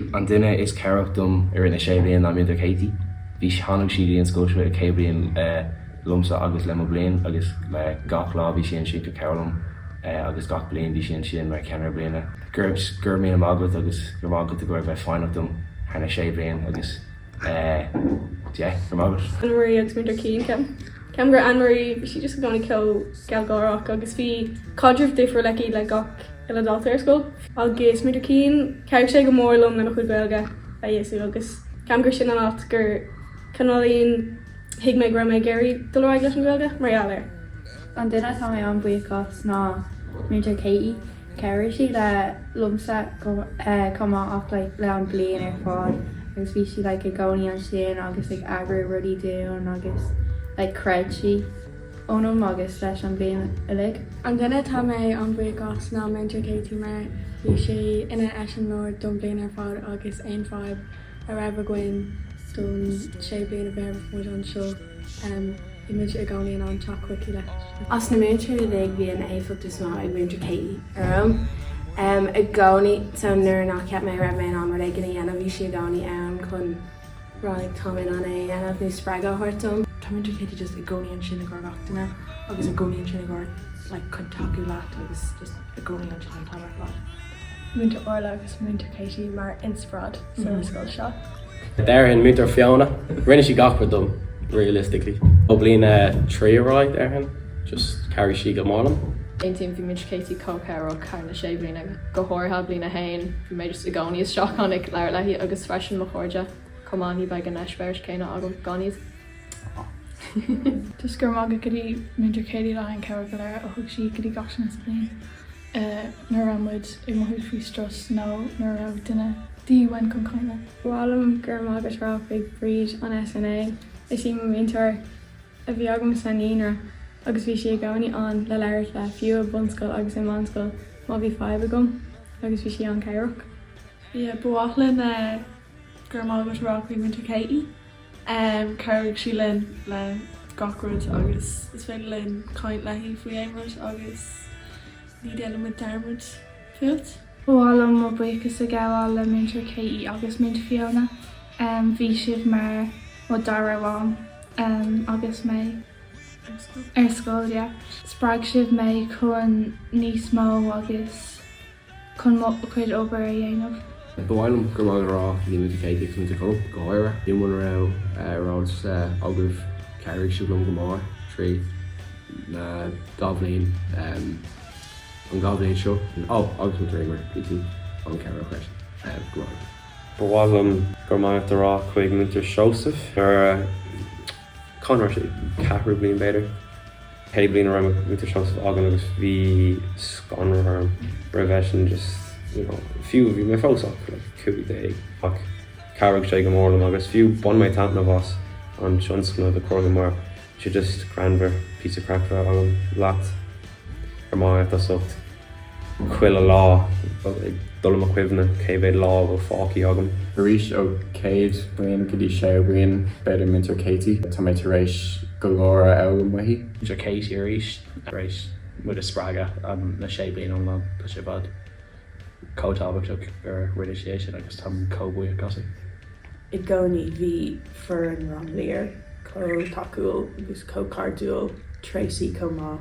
An duine is cabhrach dom i rith na sé bliana ná Múinteoir Katie. Bhí, tháinig sí go dtí an scoil seo ag céad bliain liomsa agus le mo bhliain agus le gach lá bhí sí ansin ag cabhrú liom agus gach bliain bhí sí ansin mar cheannaire bliana. Go raibh míle maith agat agus go raibh maith agat i gcomhair bheith foighneach dom thar na sé bliain agus go raibh maith agat. Anne Marie agus Múinteoir Cian, ceapaim. Ceapaim gur Anne Marie, bhí sí just i gcónaí chomh gealgháireach agus bhí caidreamh difriúil aici le gach uile dalta ar scoil. Agus Múinteoir Cian, chabhraigh sé go mór liom le mo chuid Gaeilge a fheabhsú agus ceapaim gur sin an áit gur cineáilín thuig mé go raibh mé ag iarraidh dul ar aghaidh leis an Ghaeilge mar gheall air. An duine atá mé an-bhuíoch as ná Múinteoir Katie. Chabhraigh sí le, liomsa, chomh maith ach like le an bliain ar fad agus bhí sí like i gcónaí ansin agus ag eagrú rudaí dúinn agus like chreid sí ionam agus leis an bliain uilig. An duine atá mé an-bhuíoch as ná Múinteoir Katie mar bhí sí ina eiseamláir don bhliain ar fad agus aon fadhb a raibh againn don sé bliana a bhí muid anseo. Bhí muid i gcónaí in ann teacht chuici leis. As na múinteoirí uilig, bhí an éifeacht is mó ag Múinteoir Katie orm. I gcónaí, so nuair nach cheap mé a raibh mé in ann rud éigin a dhéanamh, bhí sí i gcónaí ann chun rá like tá mé in ann é a dhéanamh nó spreagadh a thabhairt dom. Tá Múinteoir Katie just i gcónaí ansin i gcomhair gach duine agus i gcónaí ansin i gcomhair like chun tacú leat agus just i gcónaí ansin chun cabhrach leat. Múinteoir Orla agus Múinteoir Katie mar inspioráid sa scoil seo. Déarfainn Múinteoir Fiona, rinne sí gach rud dom, realistically, ó bhliain a trí ar aghaidh, déarfainn, just chabhraigh sí go mór liom. Aontaím, bhí Múinteoir Katie chomh cabhrach thar na sé bliana, go háirithe bliain a haon, bhí mé just i gcónaí isteach ann ag labhairt léi agus freisin mo chairde chomh maith, ní bheadh an eispéireas céanna agam gan iad. Just go raibh maith agat go dtí Múinteoir Katie le haghaidh an chabhair go léir a thug sí go dtí gach duine sa bhliain. é nuair a raibh muid ag mothú faoi strus nó nuair a raibh duine de dhíth orainn chun caint linn. Ba mhaith liom go raibh maith agat a rá chuig Bríd an SNA. Is í mo mhúinteoir a bhí agam sa naíonra agus bhí sí i gcónaí ann le labhairt le, fiú i bunscoil agus i meánscoil má bhí fadhb agam, agus bhí sí an-chabhrach. Yeah, ba mhaith linn go raibh maith agat a rá chuig Múinteoir Katie. Chabhraigh sí linn le gach rud agus is féidir linn caint léi faoi aon rud agus ní déanfaidh muid dearmad fút. Ba mhaith liom mo bhuíochas a ghabháil le Múinteoir Katie agus Múinteoir Fiona. Bhí sibh mar mo dara mham agus mé ar scoil. Spreag sibh mé chun níos mó agus chun mo chuid obair a dhéanamh. Ba mhaith liom go raibh maith agat a rá le Múinteoir Katie chun an club go háirithe. Níl muna raibh a fhios agaibh chabhraigh sí liom go mór trí na dhá bhliain, an dhá bhliain seo. Ó agus mo Dreamer bhí tú an-chabhrach freisin. Go raibh maith agat. Ba mhaith liom go raibh maith agat a rá chuig Múinteoir Joseph gur. Conor, Sea. Ceathrú bliain b'fhéidir. Cé bliain a raibh Múinteoir Joseph againn agus bhí scanradh orm roimh eisean just, you know, fiú, bhí mé fós ach like cúig déag ach chabhraigh sé go mór liom agus fiú bhain mé taitneamh as an tionscnamh i gCorcaigh mar sé just greannmhar píosa craic bheith agam leat ar m'áitheasacht. chuile lá, ag cur i gcuimhne cé mhéad lá a bhfuil fágtha agam. Arís, ó chéad bhliain go dtí séú bliain, b'fhéidir, Múinteoir Katie, tá mé tar éis go leor a fhoghlaim uaithi. Múinteoir Katie arís, tar éis muid a spreagadh le sé bliana iomlán, tá sé i bhfad chomh tábhachtach gur rinne sí é sin agus táim chomh buíoch as sin. I gcónaí, bhí foireann Rang Lir chomh tacúil agus chomh cairdiúil, Tracey chomh maith.